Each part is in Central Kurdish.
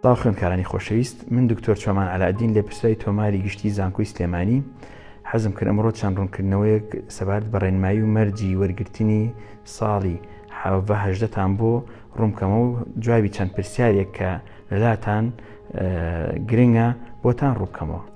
سلاو خوێنکارانی خۆشەویست من دکتۆر چۆمان علاادین لە پرسای تۆماری گشتی زانکۆی سلێمانی حەزم کرد ئەمڕۆ چەند ڕوونکردنەوەیەک سەبارەت بە ڕێنمایی و مەرجی وەرگرتنی ساڵی هەهدەتان بۆ ڕوومکەمە و جوابی چەند پرسیارێک کە لەلاتان گرنگە بۆتان ڕووکەمەوە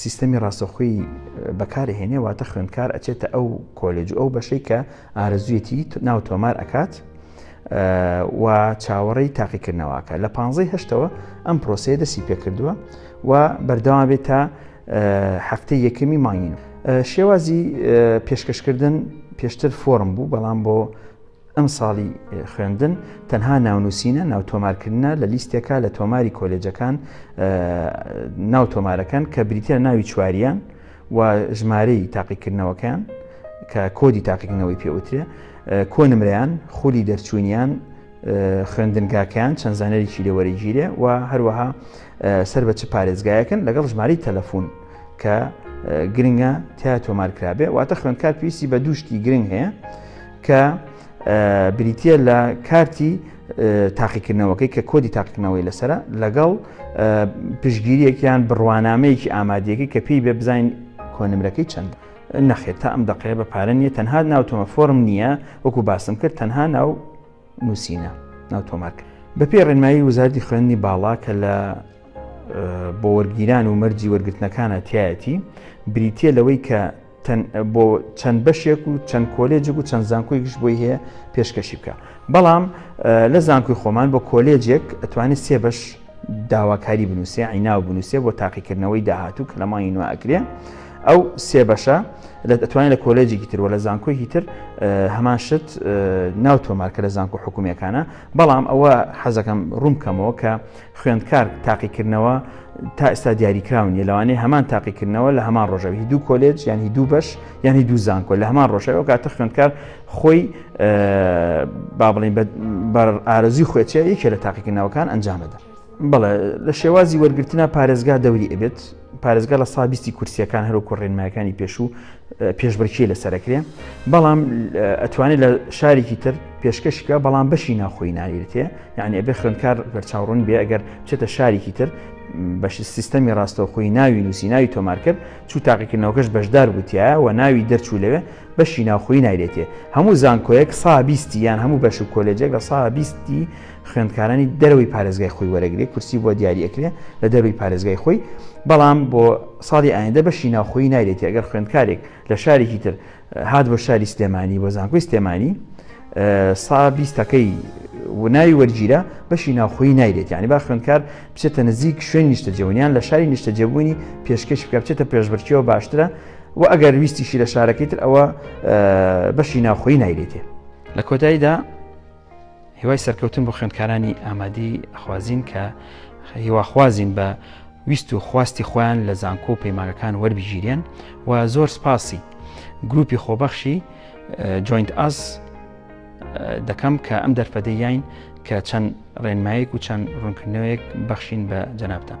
سیستەمی ڕاستەخۆی بەکاری هێنێ واتە خوێندکار ئەچێتە ئەو کۆلێج و ئەو بەشەی کە ئارەزویەتی ناو تۆمار ئەکات و چاوەڕێی تاقیکردنەوەکە لە پانزەی هەشتەوە ئەم پرۆسەیە دەسی پێکردووە و بەردەوا بێت تا هەفتەی یەکەمی مانگین شێوازی پێشکەشکردن پێشتر فۆرم بوو بەڵام بۆ ئەمساڵی خوێندن تەنها ناونووسینە ناوتۆمارکردنە لە لیستێکا لە تۆماری کۆلێجەکان ناو تۆمارەکەن کە بریتە ناوی چواریان و ژمارەی تاقیکردنەوەکان کە کۆدی تاقیکردنەوەی پێوترێ کۆنمریان خولی دەرچوونیان خوێندنگاکەیان چەند زانەرێکی لێوەرەگیرێ و هەروەها سەر بە چ پارێزگایەکن لەگەڵ ژماری تەلەفۆن کە گرنگە تیا تۆمارکرابێ واتە خوێندکار پێویستی بە دووشتی گرنگ هەیە کە بریتە لە کارتی تاقیکردنەوەکەی کە کۆدی تاقیکردنەوەی لەسرە لەگەڵ پشگیریەکیان بڕوانامەیەکی ئامادەیەکی کە پێی بێ بزانین کۆنمرەکەی چەند نەخێت تا ئەم دەقەیە بە پارە نیە تەنها ناو تۆمە فۆرم نییە وەکو باسم کرد تەنها ناو نووسینە ناو تۆمارک بە پێ ڕێنمایی وزاردی خوێندنی باڵا کە لە بۆ وەرگیران و مەرجی وەرگرتنەکانە تایەتی بریتە لەوەی کە بۆ چەند بەشێک و چەند کۆلێجێک و چەند زانکۆیکش بۆی هەیە پێشکەشی بکە بەڵام لە زانکۆی خۆمان بۆ کۆلێجێک ئەتوانێت سێ بەش داواکاری بنووسێ عیناو بنووسێ بۆ تاقیکردنەوەی داهاتوو کە لەمانی نوێ ئەکرێ ئەو سێ بەشە لە دەتوانین لە کۆلێجێکی تر و لە زانکۆیکی تر هەمان شت ناو تۆمارکە لە زانکۆ حکوومیەکانە بەڵام ئەوە حەزەکەم ڕوومکەمەوە کە خوێندکار تاقیکردنەوە تا ئێستا دیاریکراون یە لەوانەیە هەمان تاقیکردنەوە لە هەمان ڕۆژەوی دوو کۆلێج یانی دوو بەش یانی دوو زانکۆ لە هەمان ڕۆژەوە کاتە خوێندکار خۆی با بڵین بەر ئارزی خوێچە یەکێ لە تاقیکردنەوەکان ئەنجامەدا بڵێ لە شێوازی وەرگرتنا پارێزگا دەوری ئەبێت پارێزگا لە سا بیستی کورسیەکان هەروکو ڕێنمایەکانی پێشوو پێشبرکی لەسەرکرێ بەڵام ئەتوانێت لە شارێکی تر پێشکەشکە بەڵام بەشی ناخۆی ناویرتێ یعنی ئەبێ خوێندکار بەرچاوڕون بێ ئەگەر چێتە شارێکی تر بەش سیستەمی ڕاستەوخۆی ناوی نووسی ناوی تۆمار کرد چوو تاقیکردنەوەکەش بەشدار بوتیە و ناوی دەرچوو لەوێ بەشی ناوخۆی نایرێتێ هەموو زانکۆیەک سا بیستی یان هەموو بەش و کۆلێجێک لە سا بیستی خوێندکارانی دەرەوەی پارێزگای خۆی وەرەگرێ کورسی بۆ دیاری ئەکرێ لە دەروی پارێزگای خۆی بەڵام بۆ ساڵی ئایندە بەشی ناوخۆی نایرێتی ئەگەر خوێندکارێک لە شارێکی تر هاات بۆ شاری سلێمانی بۆ زانکۆی سلێمانی سا بیستەکەی وناوی وەرگیرە بەشی ناوخۆی نایرێت ینی با خوێندکار بچێتە نزیک شوێن نیشتە جەونیان لە شاری نیشتە جێبوونی پێشکەش بکە بچێتە پێشبرکیەوە باشترە و ئەگەر ویستیشی لە شارەکەی تر ئەوە بەشی ناوخۆی نایرێتێ لە کۆتاییدا هیوای سەرکەوتن بۆ خوێندکارانی ئامادی خوازین کە هیواخوازین بە ویست و خواستی خۆیان لە زانکۆ و پەیمانەکان وەربگیرێن و زۆر سپاسی گروپی خۆبەخشی جوینت ئاز دەکەم کە ئەم دەرفەدەیین کە چەند ڕێنمایەک و چەند ڕوونکردنەوەیەک بەخشین بە جەنابتان.